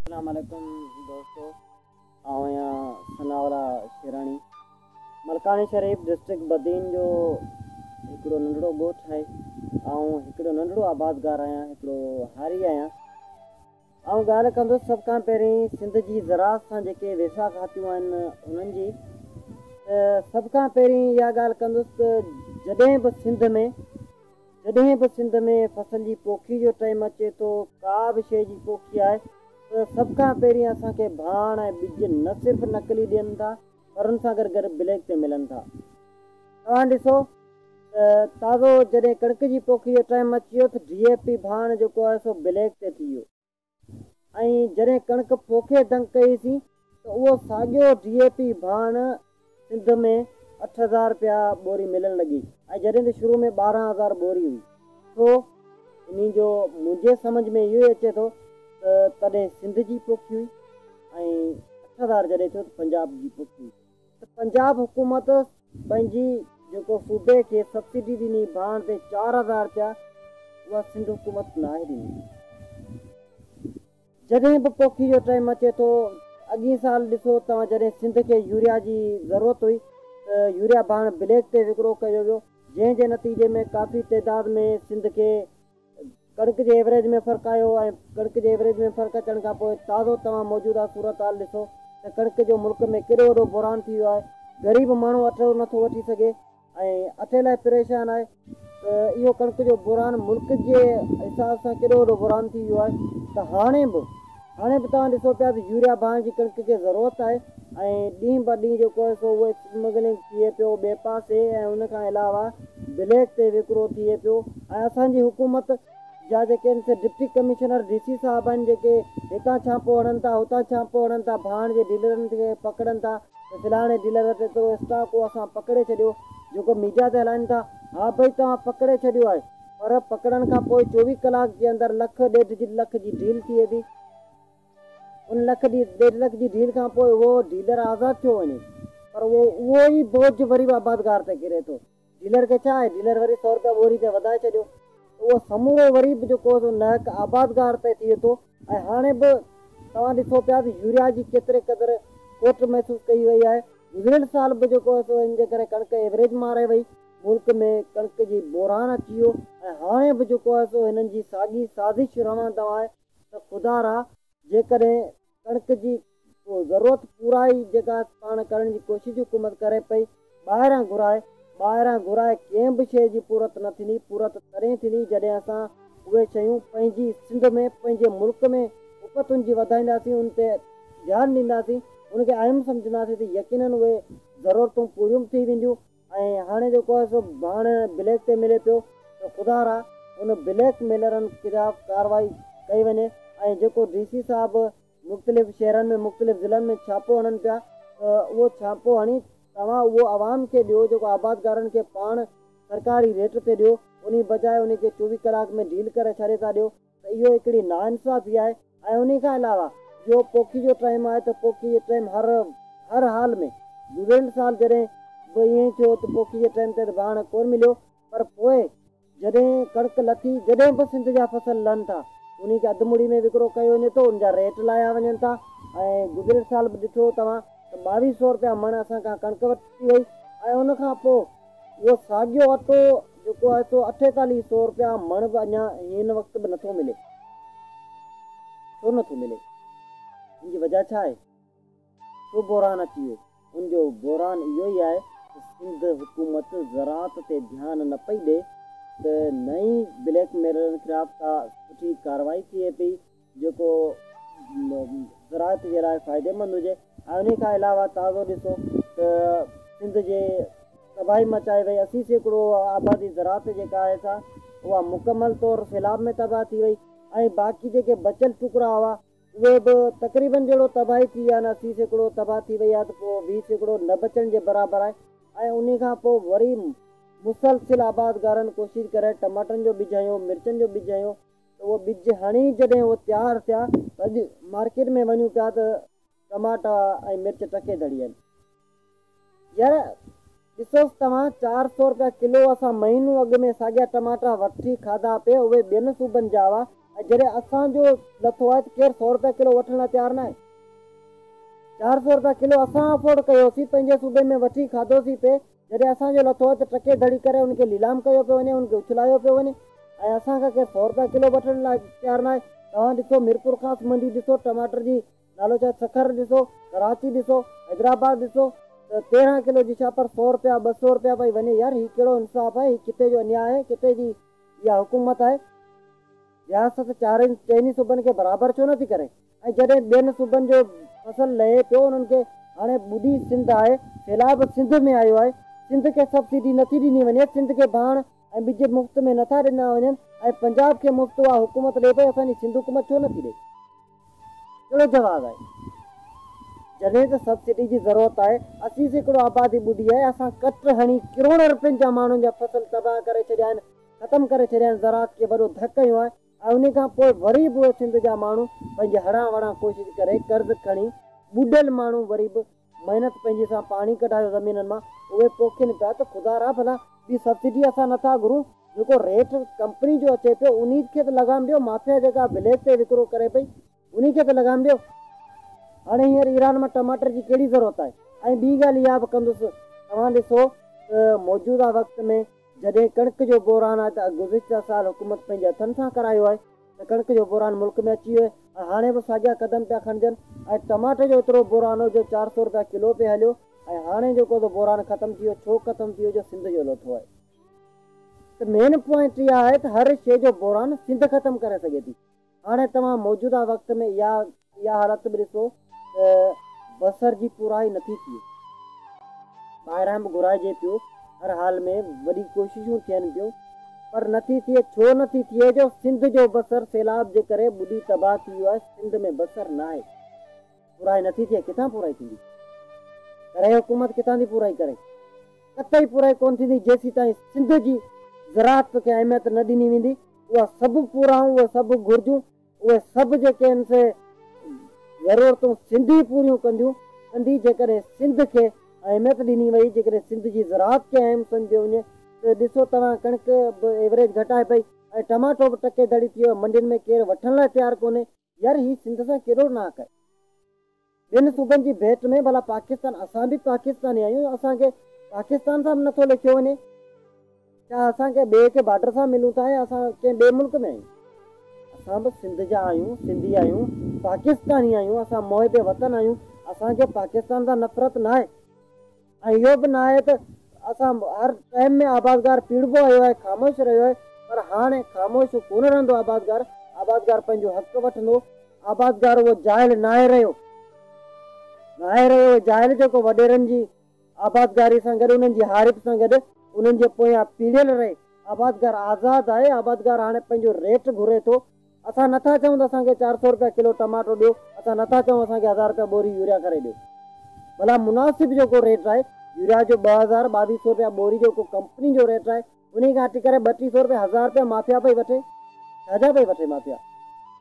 اسلام عليڪم دوستو آئون آهيان ثناء الله شيراڻي ملڪاڻي شريف ڊسٽرڪٽ بدين جو هڪڙو ننڍڙو ڳوٺ آهي آئون هڪڙو ننڍڙو آبادگار آهيان هڪڙو هاري آهيان آئون ڳالهه ڪندس سڀ کان پهرين سنڌ جي زراعت سان جيڪي ويساهه کاتيون آهن انهن جي سڀ کان پهرين اها ڳالهه ڪندس ته جڏهن به سنڌ ۾ جڏهن به سنڌ ۾ فصل جي پوکي جو ٽئيم اچي ٿو، ڪا به شيء جي پوکي آهي ته سڀ کان پهرين اسان کي ڀاڻ ۽ ٻج نه صرف نقلي ڏين ٿا پر ان سان گڏ گڏ بليڪ تي ملن ٿا. توهان ڏسو ته تازو جڏهن ڪڻڪ جي پوکي جو ٽئيم اچي ويو ته ڊي اي پي ڀاڻ جيڪو آهي سو بليڪ تي ٿي ويو. ۽ جڏهن ڪڻڪ پوکي دنگ ڪئيسين ته اهو ساڳيو ڊي اي پي ڀاڻ سنڌ ۾ اٺ هزار رپيا ٻوري ملڻ لڳي ۽ جڏهن ته شروع ۾ ٻارهن هزار ٻوري هئي. ڇو؟ انهي جو منهنجي سمجهه ۾ اهو ئي اچي ٿو ته تڏهن سنڌ جي پوکي هئي ۽ اٺ هزار جڏهن ٿيو ته پنجاب جي پوکي هئي. ته پنجاب حڪومت پنهنجي جيڪو صوبي کي سبسڊي ڏني ڀاڻ تي چار هزار رپيا اها سنڌ حڪومت ناهي ڏني. جڏهن به پوکي جو ٽائيم اچي ٿو اڳين سال ڏسو توهان جڏهن سنڌ کي يوريا جي ضرورت هئي ته يوريا ڀاڻ بليڪ تي وڪرو ڪيو ويو جنهن جي نتيجي ۾ ڪافي تعداد ۾ سنڌ کي ڪڻڪ جي ايوريج ۾ فرق آيو ۽ ڪڻڪ جي ايوريج ۾ فرق اچڻ کان پوء تازو توهان موجوده صورتحال ڏسو ته ڪڻڪ جو ملڪ ۾ ڪيڏو وڏو بحران ٿي ويو آهي، غريب ماڻهو اٽو نٿو وٺي سگهي ۽ اٽي لاء پريشان آهي ته اهو ڪڻڪ جو بحران ملڪ جي حساب سان ڪيڏو وڏو بحران ٿي ويو آهي ته هاڻي به هاڻي به توهان ڏسو پيا ته يوريا بانهن جي ڪڻڪ کي ضرورت آهي ۽ ڏينهن بر ڏينهن جيڪو آهي سو اهو اسمگلنگ ٿئي پيو ٻئي پاسي ۽ ان کان علاوه بليڪ تي وڪرو ٿئي پيو ۽ اسان جي حڪومت جا جيڪي آهن سي ڊپٽي ڪمشنر ڊي سي صاحب آهن جيڪي هتان ڇاپو هڻن ٿا هتان ڇاپو هڻن ٿا بانهن جي ڊيلرن کي پڪڙن ٿا ته فلاڻي ڊيلر وٽ ايترو اسٽاڪ هو اسان پڪڙي ڇڏيو جيڪو ميڊيا تي هلائن ٿا ها ڀئي توهان پڪڙي ڇڏيو آهي. پر پڪڙڻ کان پوء چوويهه ڪلاڪ جي اندر لک ڏيڍ لک جي ڊيل ٿئي ٿي. ان لک ڏيڍ لک جي ڊيل کان پوء اهو ڊيلر آزاد ٿيو وڃي پر اهو اهو ئي بوجهه وري به آبادگار تي ڪري ٿو. ڊيلر کي ڇا آهي، ڊيلر وري سؤ روپيا ٻوري تي وڌائي ڇڏيو ته اهو سمورو وري به جيڪو نهڪ آبادگار تي ٿئي ٿو ۽ هاڻي به توهان ڏٺو پيا ته يوريا جي ڪيتري قدر کوٽ محسوس ڪئي وئي آهي. گذريل سال به جيڪو هو سو ان جي ڪري ڪڻڪ ايوريج مان رهي وئي، ملڪ ۾ ڪڻڪ جي بحران اچي ويو ۽ هاڻي به جيڪو هو سو هنن جي ساڳي سازش روان دوان آهي ته خدا را جيڪڏهن ڪڻڪ جي اهو ضرورت پورائي جيڪا پاڻ ڪرڻ جي ڪوشش حڪومت ڪري پئي ٻاهران گهرائي ٻاهران گهرائي ڪنهن به شيء جي پورت نه ٿيندي پورت تڏهن ٿيندي جڏهن اسان اهي شيون پنهنجي سنڌ ۾ پنهنجي ملڪ ۾ اپتن جي وڌائينداسين ان تي ڌيان ڏينداسين ان کي اهم سمجهنداسين ته يقينن اهي ضرورتون پوريون به ٿي وينديون ۽ هاڻي جيڪو آهي سو ڀاڻ بليڪ تي ملي پيو ته خدا را ان بليڪ ميلرن خلاف ڪارروائي ڪئي وڃي ۽ جيڪو ڊي سي صاحب مختلف شهرن ۾ مختلف ضلعن ۾ ڇاپو هڻن پيا ته اهو ڇاپو هڻي توهان اهو عوام کي ڏيو جيڪو آبادگارن کي پاڻ سرڪاري ريٽ تي ڏيو انهي بجاء انهي کي چوويهه ڪلاڪ ۾ ڊيل ڪري ڇڏي ٿا ڏيو ته اهو هڪڙي ناانصافي آهي ۽ انهي کان علاوه جو پوکي جو ٽائيم آهي ته پوکي جي ٽائيم هر هر حال ۾ گذريل سال جڏهن به ائين ئي ٿيو ته پوکي جي ٽائيم تي ته ڀاڻ ڪون مليو پر پوء جڏهن ڪڻڪ لٿي، جڏهن به سنڌ جا فصل لھن ٿا، انهي کي اڌ مڙي ۾ وڪرو ڪيو وڃي ٿو، ان جا ريٽ لاهيا وڃن ٿا ۽ گذريل سال به ڏٺو توهان ته ٻاويهه سؤ رپيا مڻ اسان کان ڪڻڪ ورتي وئي ۽ ان کان پوء اهو ساڳيو اٽو جيڪو آهي سو اٺيتاليهه سؤ رپيا مڻ به اڃا هن وقت به نٿو ملي. ڇو نٿو ملي؟ ان جي وجهه ڇا آهي؟ ڇو بحران اچي ويو؟ ان جو بحران اهو ئي آهي ته سنڌ حڪومت زراعت تي ڌيان نه پئي ڏئي ته نه ئي بليڪ ميلرن خلاف ڪا سٺي ڪارروائي ٿئي پئي جيڪو زراعت جي لاء فائديمند هجي ۽ انهي کان علاوه تازو ڏسو ته سنڌ جي تباهي مچائي وئي اسي سيڪڙو آبادي زراعت جيڪا آهي سا اها مڪمل طور سيلاب ۾ تباهه ٿي وئي ۽ باقي جيڪي بچيل ٽڪرا هئا اهو به تقريبن جهڙو تباهي ٿي يا نه سي سيڪڙو تباهه ٿي وئي آهي ته پوء ويهه سيڪڙو نه بچڻ جي برابر آهي ۽ انهي کان پوء وري مسلسل آبادگارن ڪوشش ڪري ٽماٽن جو ٻج هنيو مرچن جو ٻج هنيو ته اهي ٻج هڻي جڏهن اهي تيار ٿيا ته اڄ مارڪيٽ ۾ وڃون پيا ته ٽماٽا ۽ مرچ ٽڪي دڙي آهن. يار ڏسوس توهان چار سئو رپيا ڪلو اسان مهينو اڳ ۾ ساڳيا ٽماٽا وٺي کاڌا پي اهي ٻين صوبن جا هئا ۽ جڏهن اسان جو لٿو آهي ته ڪير سئو رپيا ڪلو وٺڻ لاء تيار ناهي چار سئو رپيا ڪلو اسان افورڊ ڪيوسين پنهنجي صوبي ۾ وٺي کاڌوسين پي جڏهن اسان جو لٿو آهي ته ٽڪي ڌڙي ڪري ان کي ليلام ڪيو پيو وڃي ان کي اڇلايو پيو وڃي ۽ اسان کان ڪير سئو رپيا ڪلو وٺڻ لاء تيار ناهي توهان ڏسو ميرپور خاص منڊي ڏسو ٽماٽر جي نالو ڇا سکر ڏسو ڪراچي ڏسو حيدرآباد ڏسو ته تيرهن ڪلو جي شاپ پر سو رپيا ٻه سو رپيا پئي وڃي يار هي ڪهڙو انصاف آهي هي ڪٿي جو انياء آهي ڪٿي جي اها حڪومت آهي رياست چارئي چئن ئي صوبن کي برابر ڇو نٿي ڪري ۽ جڏهن ٻين صوبن جو فصل لهي پيو انهن کي هاڻي ٻڏي سنڌ آهي سيلاب سنڌ ۾ آيو آهي سنڌ کي سبسڊي نٿي ڏني وڃي سنڌ کي ڀاڻ ۽ ٻج مفت ۾ نٿا ڏنا وڃن ۽ پنجاب کي مفت اها حڪومت ڏئي پئي اسان جي سنڌ حڪومت ڇو نٿي ڏئي. ڪهڙو جواز آهي؟ جڏهن ته سبسڊي جي ضرورت آهي، اسي سيڪڙو آبادي ٻڏي آهي، اسان ڪٽ هڻي ڪروڙن رپين جا ماڻهن جا فصل تباهه ڪري ڇڏيا آهن، ختم ڪري ڇڏيا آهن، زراعت کي وڏو ڌڪ هنيو آهي ۽ انهي کان پوء وري به اهي سنڌ جا ماڻهو پنهنجي هڙان وڙان ڪوشش ڪري قرض کڻي ٻڏل ماڻهو وري به محنت پنهنجي سان پاڻي ڪڍايو زمينن مان اهي پوکين پيا ته خدا را ڀلا ٻي سبسڊي اسان نٿا گهرون جيڪو ريٽ ڪمپني جو اچي پيو انهي کي ته لگام ڏيو مافيا جيڪا وليج تي وڪرو ڪري پئي انهي کي ته لگام ڏيو هاڻي هينئر ايران مان ٽماٽر جي ڪهڙي ضرورت آهي ۽ ٻي ڳالهه اها به ڪندس توهان ڏسو ته موجوده وقت ۾ جڏهن ڪڻڪ جو بحران آهي ته گذشته سال حڪومت پنهنجي هٿن سان ڪرايو آهي ته ڪڻڪ جو بحران ملڪ ۾ اچي ويو ۽ هاڻي به ساڳيا قدم پيا کڻجن ۽ ٽماٽي جو ايترو بحران هو جو چار سؤ رپيا ڪلو پئي هليو ۽ هاڻي جو ڪو ته بحران ختم ٿي ويو ڇو ختم ٿي ويو جو سنڌ جو لوٿو آهي. ته مين پوائنٽ اها آهي ته هر شيء جو بحران سنڌ ختم ڪري سگهي ٿي هاڻي توهان موجوده وقت ۾ اها اها حالت به ڏسو ته بصر جي پورائي نٿي ٿئي. ٻاهران به گهرائجي پيو، هر حال ۾ وڏي ڪوششون ٿين پيون پر نٿي ٿئي، ڇو نٿي ٿئي جو سنڌ جو بصر سيلاب جي ڪري ٻڏي تباهه ٿي ويو آهي، سنڌ ۾ بصر ناهي، پورائي نٿي ٿئي، ڪٿان پورائي ٿيندي؟ ڪري حڪومت ڪٿان ٿي پورائي ڪري؟ قطعي پورائي ڪونه ٿيندي جيسيتائين سنڌ جي زراعت کي اهميت نه ڏني ويندي، اها سڀ پورائون، اهي سڀ گهرجون، اهي سڀ جيڪي هن سي ضرورتون سنڌي پوريون ڪنديون ڪندي جيڪڏهن سنڌ کي اهميت ڏني وئي جيڪڏهن سنڌ جي زراعت کي اهم سمجهيو وڃي ته ڏسو توهان ڪڻڪ به ايوريج گهٽائي پئي ۽ ٽماٽو به ٽڪي دڙي ٿي ويو منڊين ۾ ڪير وٺڻ لاء تيار ڪونهي يار هي سنڌ سان ڪيڏو ناحق آهي. ٻين صوبن جي ڀيٽ ۾ ڀلا پاڪستان اسان به پاڪستاني آهيون اسان کي پاڪستان سان به نٿو ليکيو وڃي ڇا اسان ڪنهن ٻئي کي بارڊر سان ملون ٿا يا اسان ڪنهن ٻئي ملڪ ۾ آهيون اسان به سنڌ جا آهيون سنڌي آهيون پاڪستاني آهيون اسان محب وطن آهيون اسان کي پاڪستان سان نفرت ناهي. ۽ اهو به ناهي ته اسان هر ٽائيم ۾ آبادگار پيڙهبو آيو آهي، خاموش رهيو آهي، پر هاڻي خاموش ڪونه رهندو آبادگار، آبادگار پنهنجو حق وٺندو، آبادگار اهو جاهل ناهي رهيو، ناهي رهيو اهو جاهل جيڪو وڏيرن جي آبادگاري سان گڏ انهن جي هارپ سان گڏ انهن جي پويان پيڙهيل رهي، آبادگار آزاد آهي، آبادگار هاڻي پنهنجو ريٽ گهري ٿو، اسان نه ٿا چئون ته اسان کي چار سؤ رپيا ڪلو ٽماٽو ڏيو، اسان نه ٿا چئون اسان کي هزار رپيا ٻوري يوريا ڪري ڏيو. ڀلا مناسب جو ڪو ريٽ آهي، يوريا جو ٻه هزار ٻاويهه سؤ رپيا ٻوري جو ڪو ڪمپني جو ريٽ آهي، انهي کان هٽ ڪري ٻه ٽي سؤ رپيا هزار رپيا مافيا پئي وٺي، ڇا جا پئي وٺي مافيا؟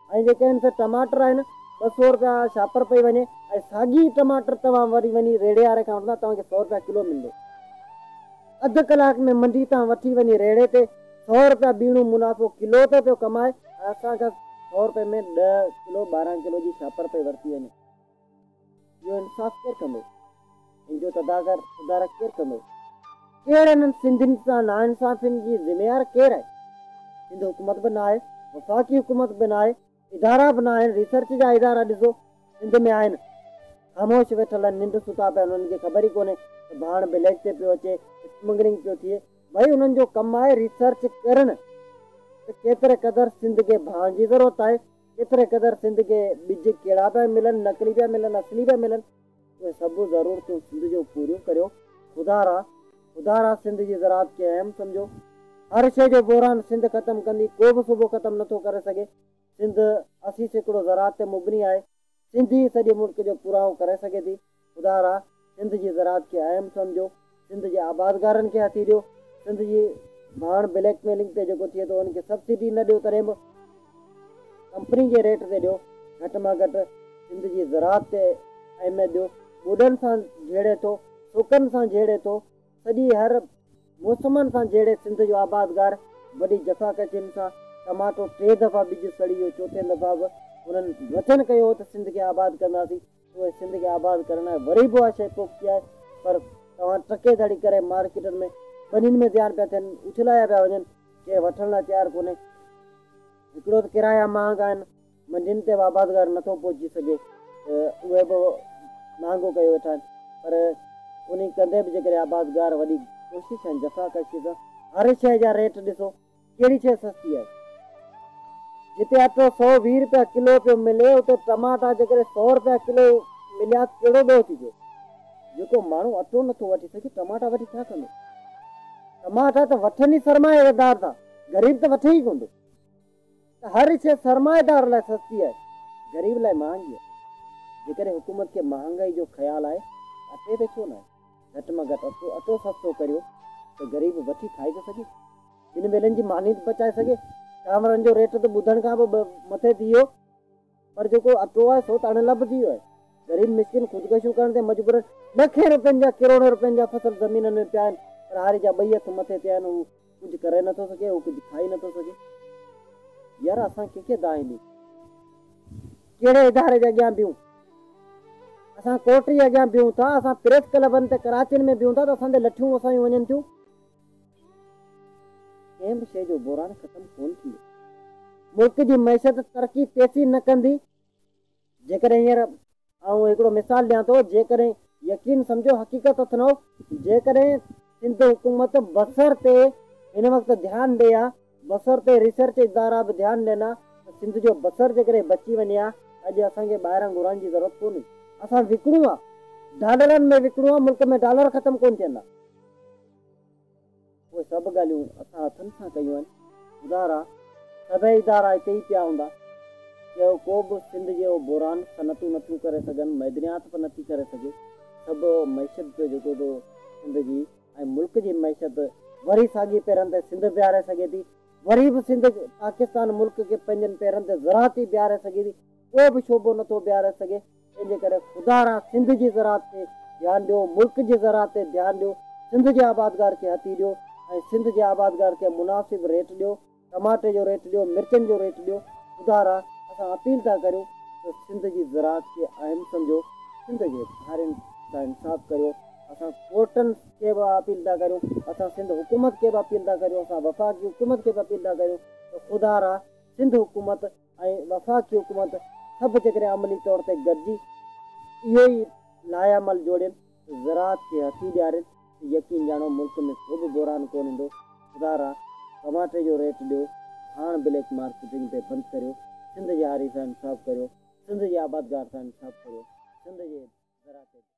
۽ جيڪي هن سر ٽماٽر آهن، ٻه سؤ رپيا شاپر پئي وڃي ۽ ساڳي ٽماٽر توهان وري وڃي ريڙهي واري کان وٺندا توهان کي سؤ رپيا ڪلو ملندو. اڌ ڪلاڪ ۾ منڊي تان وٺي وڃي ريڙهي تي سؤ رپيا ٻيڻو منافعو ڪلو تي پيو ڪمائي. اسان کان سؤ رپئي ۾ ڏهه ڪلو ٻارهن ڪلو جي شاپر پئي ورتي وڃي. اهو انصاف ڪير ڪندو؟ ان جو تداگر سڌارا ڪير ڪندو؟ ڪير انهن سنڌين سان ناانصافين جي ذميوار ڪير آهي؟ سنڌ حڪومت به ناهي، وفاقي حڪومت به ناهي، ادارا به ناهن ريسرچ جا ادارا ڏسو سنڌ ۾ آهن خاموش ويٺل آهن ننڊ ستا پيا آهن انهن کي خبر ئي ڪونهي ته ڀاڻ بليڪ تي پيو اچي اسمگلنگ پيو ٿئي ڀائي انهن جو ڪم آهي ريسرچ ڪرڻ ته ڪيتري قدر سنڌ کي ڀاڻ جي ضرورت آهي ڪيتري قدر سنڌ کي ٻج ڪهڙا پيا ملن نقلي پيا ملن اصلي پيا ملن اهي سڀ ضرورتون سنڌ جون پوريون ڪريو. خدا را خدا را سنڌ جي زراعت کي اهم سمجهو. هر شيء جو بحران سنڌ ختم ڪندي. ڪو به صوبو ختم نه ٿو ڪري سگهي. سنڌ اسي سيڪڙو زراعت تي مبني آهي. سنڌ ئي سڄي ملڪ جو پورائو ڪري سگهي ٿي. خدا را سنڌ جي زراعت کي اهم سمجهو. سنڌ جي آبادگارن کي هٿي ڏيو، سنڌ جي ڀاڻ بليڪ ميلنگ تي جيڪو ٿئي ٿو ان کي سبسڊي نه ڏيو تڏهن به ڪمپني جي ريٽ تي ڏيو، گهٽ مان گهٽ سنڌ جي زراعت تي اهميت ڏيو، ٻوڏن سان جهيڙي ٿو، سوڪن سان جهيڙي ٿو، سڄي هر موسمن سان جهيڙي سنڌ جو آبادگار وڏي جفاڪشين سان ٽماٽو ٽي دفعا ٻج سڙي ويو چوٿين دفعا به انهن وچن ڪيو هو ته سنڌ کي آباد ڪنداسين، اهي سنڌ کي آباد ڪرڻ لاء وري به اها شيء پوختي آهي پر توهان ٽڪي ڌڙي ڪري مارڪيٽن ۾ ٻنين ۾ ڌيان پيا ٿين اڇلايا پيا وڃن ڪير وٺڻ لاء تيار ڪونهي هڪڙو ته ڪرايا مهانگا آهن منڊين تي به آبادگار نٿو پهچي سگهي ته اهي به مهانگو ڪيو ويٺا آهن پر انهي ڪندي به جيڪڏهن آبادگار وڏي ڪوشش ۽ جفاڪشي سان هر شيء جا ريٽ ڏسو ڪهڙي شيء سستي آهي؟ جتي اٽو سؤ ويهه رپيا ڪلو پيو ملي اتي ٽماٽا جيڪڏهن سؤ رپيا ڪلو مليا ته ڪهڙو ڏوهه ٿي پيو؟ جيڪو ماڻهو اٽو نه ٿو وٺي سگهي ٽماٽا وٺي ڇا ڪندو؟ ٽماٽا ته وٺن ئي سرمائيدار ٿا، غريب ته وٺي ئي ڪونه ٿو. ته هر شيء سرمائيدار لاء سستي آهي، غريب لاء مهانگي آهي. جيڪڏهن حڪومت کي مهانگائي جو خيال آهي ته اٽي تي ڇو ناهي؟ گهٽ مان گهٽ اٽو اٽو سستو ڪريو ته غريب وٺي کائي ته سگهي. ٻن ويلن جي ماني ته پچائي سگهي. چانورن جو ريٽ ته ٻڌڻ کان به مٿي ٿي ويو. پر جيڪو اٽو آهي سو ته اڻ لڀجي ويو آهي. غريب مسڪين خودڪشيون ڪرڻ تي مجبور آهن. لکين روپين جا ڪروڙين روپين جا فصل زمينن ۾ پيا آهن پر هاري جا ٻئي هٿ مٿي تي آهن هو ڪجهه ڪري نٿو سگهي هو ڪجهه کائي نٿو سگهي. يار اسان ڪنهن کي دانهين ڏيون. ڪهڙي اداري جي اڳيان بيهون. اسان ڪورٽ جي اڳيان بيهون ٿا اسان پريس ڪلبن تي ڪراچين ۾ بيهون ٿا ته اسان تي لٺيون وسايون وڃن ٿيون. ڪنهن به شيء جو بحران ختم ڪونه ٿيندو. ملڪ جي معيشت ترقي تيسين نه ڪندي. جيڪڏهن هينئر آئون هڪڙو مثال ڏيان ٿو، جيڪڏهن يقين سمجهو حقيقت اٿنئو، جيڪڏهن سنڌ حڪومت بصر تي هن وقت ڌيان ڏئي ها، بصر تي ريسرچ ادارا به ڌيان ڏين ها ته سنڌ جو بصر جيڪڏهن بچي وڃي ها ته اڄ اسان کي ٻاهران گهرائڻ جي ضرورت ڪونهي. اسان وڪڻون ها، ڊالرن ۾ وڪڻون ها، ملڪ ۾ ڊالر ختم ڪونه ٿيندا. اهي سڀ ڳالهيون اسان هٿن سان ڪيون آهن. ادارا، سڀئي ادارا هتي ئي پيا هوندا. جي ڪو به سنڌ جهڙو بحران صنعتون نٿيون ڪري سگهن، معدنيات به نٿي ڪري سگهي، ته به معيشت جو جيڪو به سنڌ جي ۽ ملڪ جي معيشت وري ساڳي پيرن تي سنڌ بيهاري سگهي ٿي. وري به سنڌ پاڪستان ملڪ کي پنهنجن پيرن تي زراعتي بيهاري سگهي ٿي. ڪو به شعبو نٿو بيهاري سگهي. تنهنجي ڪري خدا را سنڌ جي زراعت تي ڌيان ڏيو ملڪ جي زراعت تي ڌيان ڏيو سنڌ جي آبادگار کي هٿي ڏيو ۽ سنڌ جي آبادگار کي مناسب ريٽ ڏيو ٽماٽي جو ريٽ ڏيو مرچن جو ريٽ ڏيو خدا را اسان اپيل ٿا ڪريون ته سنڌ جي زراعت کي اهم سمجهو سنڌ جي ڌارين سان انصاف ڪريو اسان ڪورٽن کي به اپيل ٿا ڪريون اسان سنڌ حڪومت کي به اپيل ٿا ڪريون اسان وفاقي حڪومت کي به اپيل ٿا ڪريون ته خدا را سنڌ حڪومت ۽ وفاقي حڪومت سڀ جيڪڏهن عملي طور تي گڏجي اهو ئي لائحه عمل جوڙين ته زراعت کي هٿي ڏيارين ته يقين ڄاڻو ملڪ ۾ ڪو به بحران ڪونه ايندو خدا را ٽماٽي جو ريٽ ڏيو هاڻ بليڪ مارڪيٽنگ تي بند ڪريو سنڌ جي هاري سان انصاف ڪريو سنڌ جي آبادگار سان انصاف ڪريو سنڌ جي زراعت تي